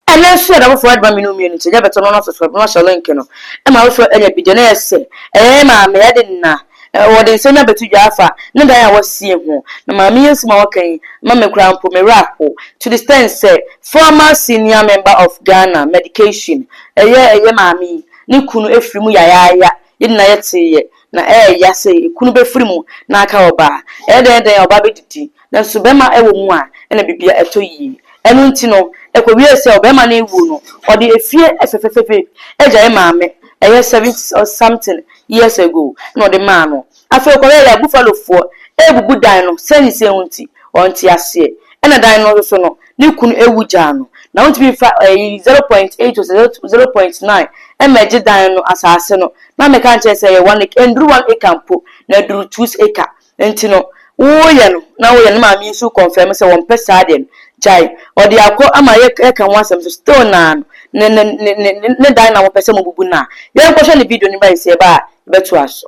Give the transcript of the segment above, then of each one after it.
Ɛno nso yɛ da foforɔ de ma me ne wo mmienu nti ɛnyɛ bɛtɔ no na soso na wahyɛ link no ma wo so ɛyɛ video na yɛ sɛ ɛyɛ yɛ maame ɛde nna wɔde nsɛm no abɛto dwa afa ne dan a wasie ho na maame yi nsɛm a waka yi ma me koraa mpo me werɛ aho to the stand sɛ former senior member of Ghana medication ɛyɛ ɛyɛ maame yi ne kunu ɛfiri mu yayaaya yɛ nyinaa yɛteeɛ Na ɛyɛ ya sɛ ekunu bɛfiri mu na aka ɔba a, ɛyɛ dɛn dɛn a ɔba bɛdidi, nanso bɛma ɛwɔ mu a, ɛna biribiara ɛtɔ yie. Ɛno nti no, ɛkɔwiee sɛ ɔbɛma no ɛwuo no, ɔde efie fɛfɛfɛ bi agyae maame, ɛyɛ seventy or something years ago na ɔde maa no. Afei ɔkɔyɛɛ ya Buffalofoɔ ɛrebubu dan no sɛnea ɛho nti, ɔnte aseɛ. Ɛna dan no nso no, ne kunu awu gyaa no, na ontumi mfa ɛyi zero point eight ose zero point nine ɛma ɛgye dan no asaase no, na meka no kyerɛ sɛ ɛyɛ one acre, ɛnduru one acre mpo, na ɛduru twos acre, nti no woyɛ no na woyɛ no, ne maame yi nso kɔnfɛm sɛ wɔmpɛ saa deɛ no, gyae, ɔde akɔ ama yɛ yɛka ho asɛm nso still naa no, ne ne ne ne ne dan na mopɛ sɛ mobubu no a, yɛnkɔhwɛ ne video no bɛn sɛ yɛba a yɛbɛtoa so.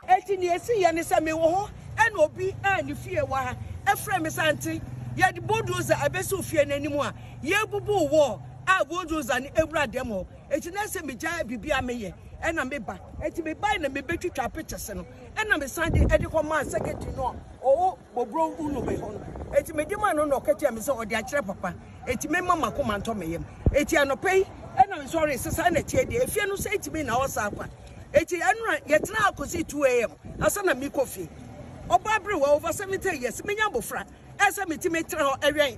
Enti nea esiiɛ ne sɛ mewɔ hɔ na obi a ne fie wɔ ha frɛɛ me sɛ, Ante, yɛde bulldozer abɛsiw fie no anim a yɛrebubu wall a bulldozer no awura dam hɔ. Enti na ɛsɛ sɛ migyae biribiara a meyɛ na meba. Enti mebae na mebetwitwaa pictures no na mesan de kɔmaa secretary no a ɔwɔ Bobrow unu me hɔ no. Enti mede maa no na ɔka kyerɛɛ me sɛ ɔde akyerɛ papa. Enti memma m'akoma ntɔ me yam. Enti anɔpa yi na nsɔre sesa na tie deɛ efie no sɛ etimi na ɔsa akwa. Enti ɛnora yɛtena akɔsi 2 am asa na mekɔ fie. Ɔbaa berewa over 70 years menya abofra ɛsɛ metimi tena hɔ ɛwɛn.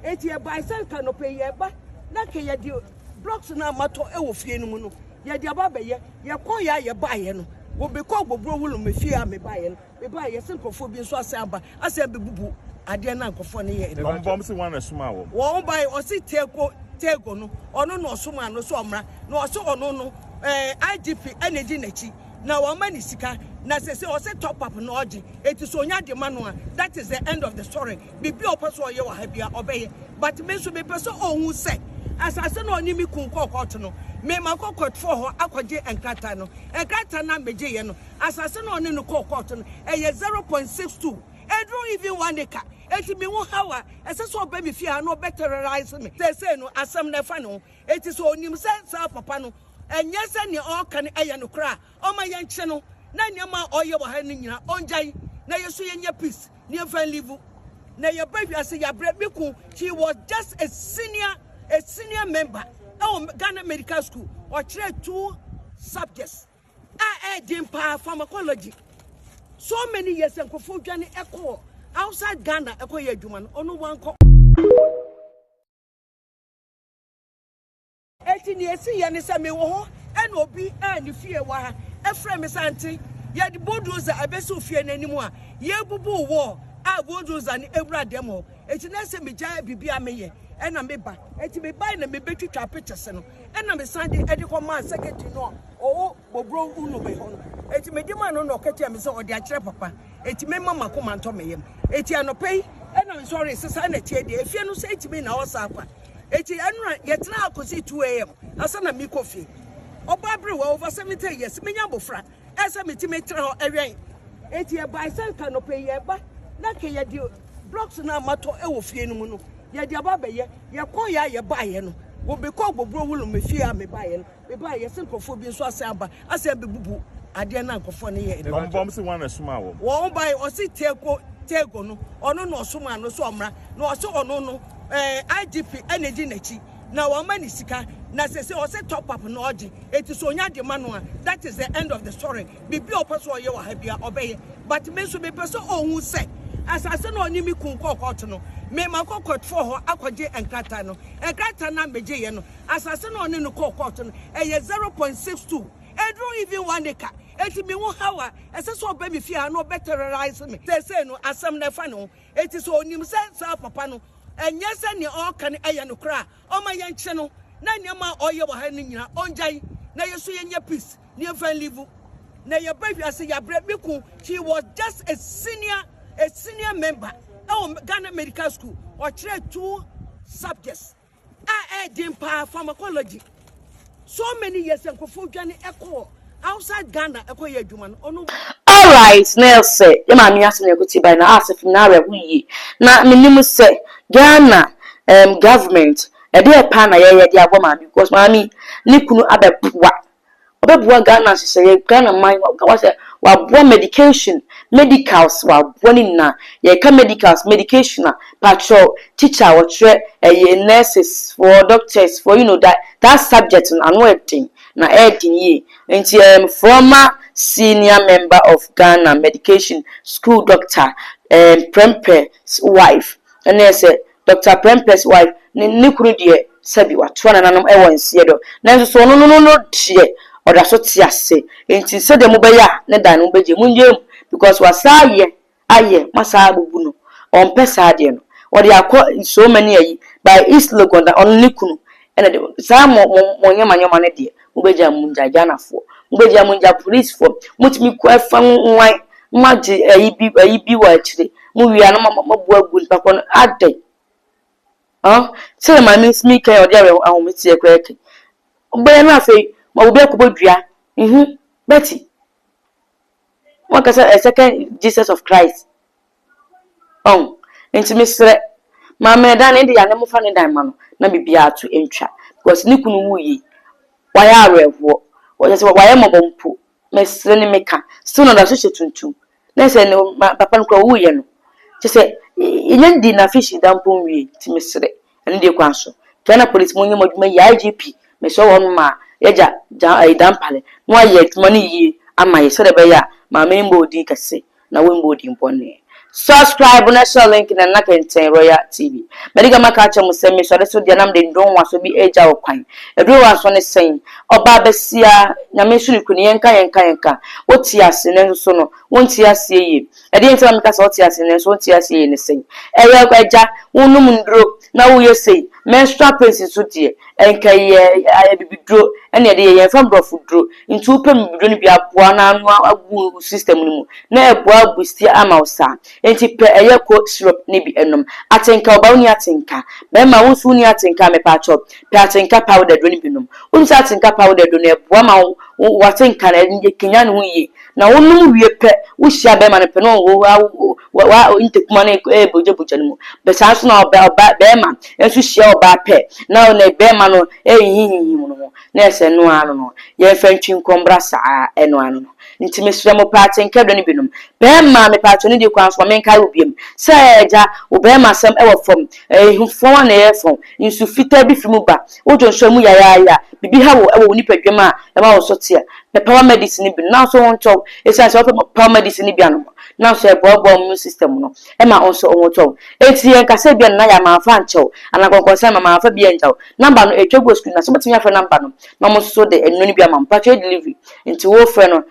Enti ɛbae sɛ nka anɔpa yi yɛba na ka yɛde blocks no a matɔ ɛwɔ fie no mu no yɛde aba abɛyɛ. Yɛkɔeɛ a yɛbaeɛ no wɔbɛkɔɔ Bobrow Wulume fie a mebaeɛ no. Meba a, yɛse nkurɔfoɔ bi nso asan aba, asan abɛbubu adeɛ na nkurɔfoɔ no yɛɛ no. Wɔn bɔ wɔn se wɔn na ɛsomaa wɔn. Wɔn bae, ɔse Tego, Tego no, ɔno na ɔsomaa no sɛ ɔmmra, na ɔse ɔno no, eh, IGP ɛna edi n'akyi, na wɔama ne sika, na sese ɔse top up na ɔgye, eti so onya de ma no a, that is the end of the story. Biribi a ɔpɛ so ɔyɛ wɔ ha bia, ɔbɛyɛ. But me nso mepɛ sɛ ɔhu sɛ, asase na ɔne me kun kɔɔ kɔɔto no, mema kɔkɔtoɔ hɔ akɔgye nkrataa no, nkrataa no a megyeeɛ no, asase na ɔne no kɔɔ kɔɔto no, ɛyɛ zero point six two, ɛduru even one acre. Eti me ho haw a, ɛsɛ sɛ ɔba me fie ha na ɔbɛ terrorise me. Seesei no, asɛm no ɛfa ne ho. Eti sɛ onim sɛ saa papa no, ɛnyɛ sɛ nea ɔreka no ɛyɛ nokorɛ a, ɔmma yɛnkye no, na nneɛma a ɔreyɛ wɔ ha no nyinaa, ɔngyae, na yɛn nso yɛnya peace, na yɛmfa nlive. Na yɛba wiase, yɛabrɛ. Me kunu, he was just a senior, a senior member ɛwɔ Ghana Medical School, ɔkyerɛɛ two subjects. a ɛyɛ den paa pharmacology so many years nkurɔfoɔ dwane ɛkɔ outside Ghana ɛkɔ yɛ adwuma no ɔno wankɔ eti nea esi yɛ ne sɛ mewɔ hɔ ɛna obi a ne fie wɔ ha ɛfrɛ me sɛ ante yɛde bulldozer ɛbɛsi ofie n'anim a yɛbubu wall a bulldozer no ewura dɛm hɔ eti na ɛsɛ megyae biribi a meyɛ ɛna meba eti mebae na mebɛtwitwa pictures no ɛna mesan de ɛde kɔ maa secretary no a ɔwɔ bɔburo unobe hɔ no eti mede maa no na ɔkatia me sɛ ɔde akyerɛ papa eti mema mako mantɔ me yam eti anɔpɛ yi ɛna nsɔre sesa ɛna tie deɛ efie no sɛ etimi na ɔsa akwa eti ɛnura yɛtena akosi 2 am asa na mekɔ fie ɔbaa bere wɔ over 70 years menya abofra ɛsɛ metumi tra hɔ ɛwɛn eti ɛbae sɛ nka nɔpɛ yi ɛba na nka yɛde blocks no a matɔ ɛwɔ fie no mu no yɛde aba abɛyɛ yɛkɔ yɛ a yɛbaeɛ no wɔbɛkɔ agbɔburo wolo me fie a mebaeɛ no mebaeɛ yɛsɛ nkurɔfoɔ bi nso asɛ aba asɛ bɛbubu adeɛ no a nkurɔfoɔ no yɛ no wɔn se wɔn ɛsoma wɔn wɔn bae ɔse teeko teeko no ɔno na ɔsoma no so ɔmmra na ɔse ɔno no ɛɛ eh, IGP ɛna di n'akyi na wɔma ne sika na sɛ sɛ ɔsɛ top up na ɔgye eti so onya de ma no a that is the end of the story bibi ɔpɛ so ɔyɛ wɔ ha bia ɔbɛyɛ but me nso mepɛ sɛ ɔhu sɛ asase na ɔne me kun kɔɔ kɔɔto no mema kɔ kɔtfoɔ hɔ akɔgye nkrataa no nkrataa no a megyeeɛ no asase na ɔne no kɔɔ kɔɔto no ɛyɛ 0.62 ɛduru even one acre eti me ho hawa ɛsɛ sɛ ɔbɛ me fie ha na ɔbɛ terrorize me sɛ sɛ no asɛm na ɛfa ne ho Enti sɛ onim sɛ saa papa no, ɛnyɛ sɛ nea ɔreka no yɛ nokorɛ a, ɔmma yɛnkye no, na nneɛma a ɔreyɛ wɔ ha no nyinaa, ɔngyae, na yɛn nso yɛnyɛ peace, na yɛmfa nlivu, na yɛba wiase, yɛabrɛ. Me kun, he was just a senior, a senior member ɛwɔ Ghana Medical School, ɔkyerɛɛ two subjects. a ɛyɛ den paa pharmacology so many years nkurɔfoɔ dwane ɛkɔ outside Ghana ɛkɔ yɛ adwuma no ɔno. Alright na ɛsɛ yɛ maame yi asɛm na ɛkɔ ti by na asɛ fam na awerɛ ho yie na me nim sɛ Ghana um government ɛdeɛ paa na yɛyɛ de abɔ maame yi because maame yi ne kunu abɛ boa ɔbɛboa Ghana nhyehyɛeɛ, Ghana man, woka wo sɛ waboa medication, medicals, waboa ne nyinaa. Yɛka medicals, medication a, patrɔ, teacher a ɔkyerɛ ɛyɛ nurses foɔ, doctors foɔ, you know that, that subject no ano ɛden, na ɛden yie. Nti I am former senior member of Ghana medication school doctor, um, Prempeh's wife, ɛne sɛ Dɔkta Prempeh's wife, ne ne kunu deɛ sɛbi watoa nananom wɔ nseɛ dɔ nanso so ɔno no no no deɛ ɔda so te ase nti sɛdeɛ mo bɛyɛ a ne dan no mo bɛgye mo nyɛ mu because wasan ayɛ ayɛ mo asan abubu no ɔmpɛ saa deɛ no ɔde akɔ so many ayi by East Legon na ɔno ne kunu ɛna de saa mo mo mo nyɛma nyɛma no deɛ mobɛgya mo ngya Ghanafoɔ mobɛgya mo ngya policefoɔ motumi kɔ ɛfa nwan moagye ayi bi ayi bi wɔ akyire mowie a na mo mobu agu nipa kɔ no adɛn ah sɛdeɛ maame nsi mi kan ɔde awerɛ ahometeɛ koraa kan wobɛyɛ no afei ma obi akɔbɔ dua mhm bɛti wɔkasa a second Jesus of Christ Ɔn, enti meserɛ, ma me dan ne dea ne mofa ne dan ma no na biribiara to ntwa, because ne kunu wuui yi, wayɛ awerɛhoɔ, kyerɛ sɛ wayɛ mmɔbɔ mpo, mesere ne meka, still na ɔda so hyɛ tuntum, na ɛsɛ ne papa no koraa owuiɛ no, kyerɛ sɛ yɛnya dii na afei hyida mpo nwiei, nti meserɛ, Ɛno deɛ kwan so. Ghana police monyɛ mo adwuma yie IGP mesrɛ wo hɔnom a yɛ gya gya ɛyi Dampare na wayɛ adwuma no yie ama yɛ sɛdeɛ ɛbɛyɛ a maame yi mmɔɔ din kɛse na wo mmɔɔ din bɔne. Subscribe na hyɛ link na nna kɛntɛn Royal TV. Madi kan maka akyerɛ mo sɛ mesɔre so deɛ na mede ndonwaso bi regya wo kwan. Adurowasɔ ne sɛn? Ɔbaa basia, Nyame nso ne kunu, yɛnka yɛnka yɛnka. Wote ase nanso so no wonte aseɛ yie. Ɛdeɛn nti na meka sɛ ɔte aseɛ nanso ɔnte aseɛ yie ne sɛn? Ɛyɛ agya, wonom nnuro na woyɛ sei, menstrual pains nso deɛ, ɛnka yɛ abibiduro na yɛde yɛ, yɛmfa mborɔfo duro nti wopɛ bibiduro no bi aboa no ano agu wo system no mu na ɛboa abustia ama wo saa nti pɛ ɛyɛ ko syrup no bi nom. Atenka, ɔbaa wonni atenka, bɛrima wo nso wonni atenka a mepaakyɛw pɛ atenka powder duro no bi nom. Wonim sɛ atenka powder duro no ɛboa ma wo w'atenka no ɛkanyan ne ho yie. Na wonom wie pɛ, wohyia bɛɛma no pɛ na ɔhohoa wo wa ntakuma no ɛɛbogyabogya no mu. Bɛ saa nso na ɔbɛ ɔba bɛɛma nso hyia ɔbaa pɛ na ɔne bɛɛma no ɛɛhinhimhim no ho na ɛɛ sɛ ɛno ara no no. Yɛnfa ntwi nkɔ mbra saa ɛno ara no no. Nti mesrɛ mo paa tenkɛ dɔ no binom. Bɛɛma mepaakyɛw ne die kwan so ma menkae wo biom sɛ ɛɛ gya wo bɛɛma asɛm ɛwɔ fam. Ɛɛ hu fɔn a na ɛyɛ fɔn. Nsu fitaa bi fi mu ba. Wo dwonsɔe mu yayaayae a, biribi haw wo wɔ wo nipaduam a ɛma wo so teɛ. Pɛ paramedicine no bi nom, nanso wo ho ntɔ wo. Esiane sɛ wopɛ paramedicine no bi anom no, nanso ɛboaboa wo immune system no, ɛma wo nso wo ho tɔ wo. Enti yɛnka sɛ ebia nneyɛe a mamfa ankyɛ wo, anaa nkɔnkɔnsɛm a mamfa bi angya wo. Number no, etwa gu wɔ screen no ase. Wobɛtumi afrɛ number no na wɔn nso de nnuro no bi ama wo. Mpakyɛw yɛ delivery, enti wofrɛ no